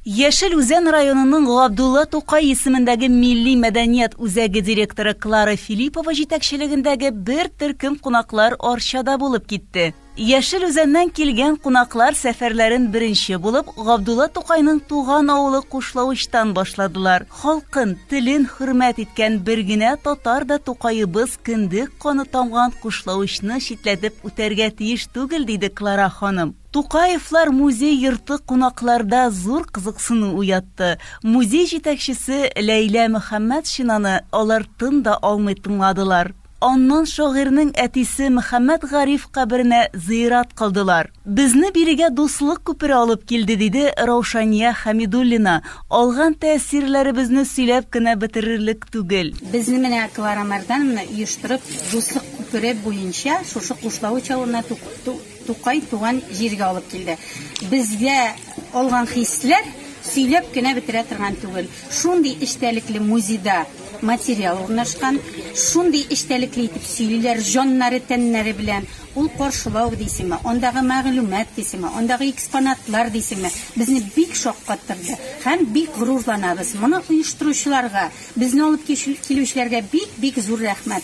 Яшел Үзән районының Габдулла Тукай исемендәге милли мәдәният үзәге директоры Клара Филиппова җитәкчелегендәге бер төркем кунаклар Арчада булып китте. Яшел Үзәннән килгән кунаклар сәфәрләрен беренче булып Габдулла Тукайның туган авылы Кушлавычтан башладылар. Халкын, телен хөрмәт иткән бер генә татар да Тукаебыз кендек каны тамган Кушлавычны читләтеп үтәргә тиеш түгел, диде Клара ханым. Тукаевлар музей йорты кунакларда зур кызыксыну уятты. Музей җитәкчесе Ләйлә Мөхәммәтшинаны алар тын да алмый тыңладылар. Аннан шагыйрьнең әтисе Мөхәммәт Гариф каберенә зыйрат кылдылар. Безне бирегә дуслык күпере алып килде, диде Раушания Хәмидуллина, алган тәэсирләребезне сөйләп кенә бетерерлек түгел. Безне менә Клара Марданна оештырып, дуслык күпере буенча шушы Кушлавыч авылына туктатты. Тукай туган җиргә алып килде. Безгә алган хисләр сөйләп кенә бетерә торган түгел. Шундый эчтәлекле музейда материал урнашкан, шундый эчтәлекле итеп сөйлиләр җаннары, тәннәре белән. Ул каршылау дисеңме, андагы мәгълүмат дисеңме, андагы экспонатлар дисеңме, безне бик шаккаттырды һәм бик горурланабыз. Моны оештыручыларга, безне алып килүчеләргә бик-бик зур рәхмәт.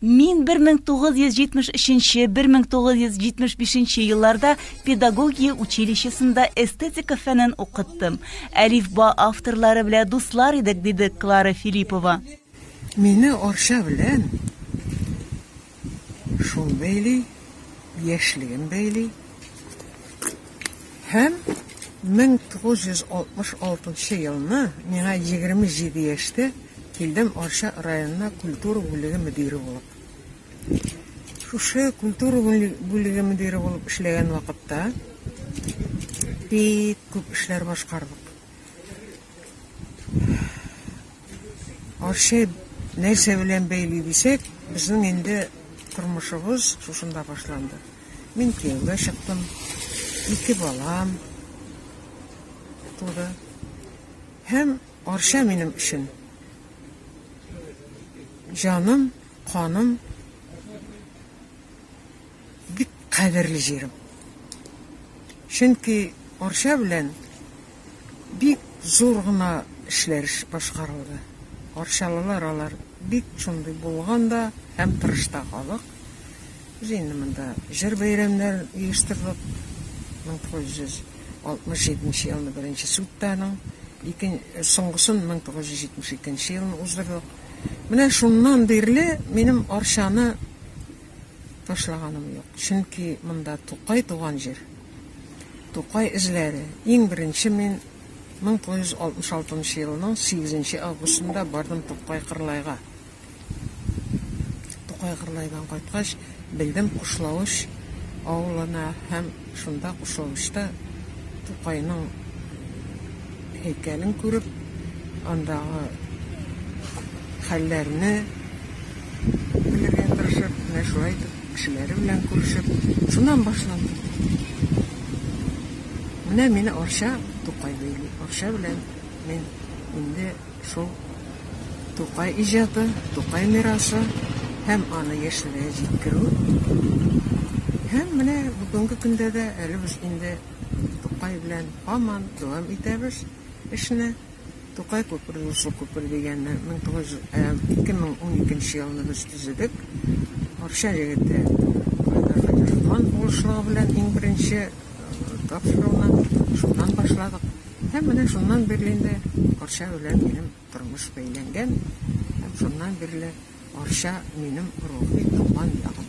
Мин 1973-1975 елларда педагогия училищесында эстетика фәнен укыттым. Әлифба авторлары белән дуслар идек, диде Клара Филиппова. Мине Арча белән шул бәйли, яшьлегем бәйли. Һәм 1966 елны миңа 27 яшьтә килдем Арча районына культура бүлеге мөдире булып. Шушы культура бүлеге мөдире булып эшләгән вакытта бик күп эшләр башкардык. Арча нәрсә белән бәйле дисәк, безнең инде тормышыбыз шушында башланды. Мин кияүгә чыктым. Ике балам туды. Һәм Арча минем өчен җаным, каным, бик кадерле җирем. Чөнки Арча белән Бик зур гына эшләр башкарылды. Арчалылар алар бик шундый булган да һәм тырыш та халык. Без инде монда җыр бәйрәмнәр оештырдык. 1967 нче елны беренче судта аның, икен, соңгысын 1972 нче елны уздырдык. Менә шуннан бирле минем Арчаны ташлаганым юк. Чөнки монда Тукай туган җир. Тукай эзләре. Иң беренче мин 1966 елының 8 августында бардым Тукай Кырлайга. Тукай Кырлайдан кайткач, белдем Кушлавыч авылына һәм Шунда Кушавычта Тукайның һәйкәлен күреп, андагы хәлләрне белергә тырышып, менә шулай итеп кешеләре белән күрешеп, шуннан башланды. Менә мине Арча Тукай бәйли. Арча белән мин инде Шул Тукай иҗаты, Тукай мирасы һәм аны яшьләргә җиткерү. Һәм менә бүгенге көндә дә әле без инде Тукай белән һаман дәвам итәбез эшне. Тукай күпере, Муслы күпер дигәнне 2012 елны без төзедек. Арча егете Айдар Хәдерхан булышлыгы белән иң беренче тапшыруны шуннан башладык. Һәм менә шуннан бирле инде Арча белән минем тормыш бәйләнгән, һәм шуннан бирле Арча минем рухи туган ягым.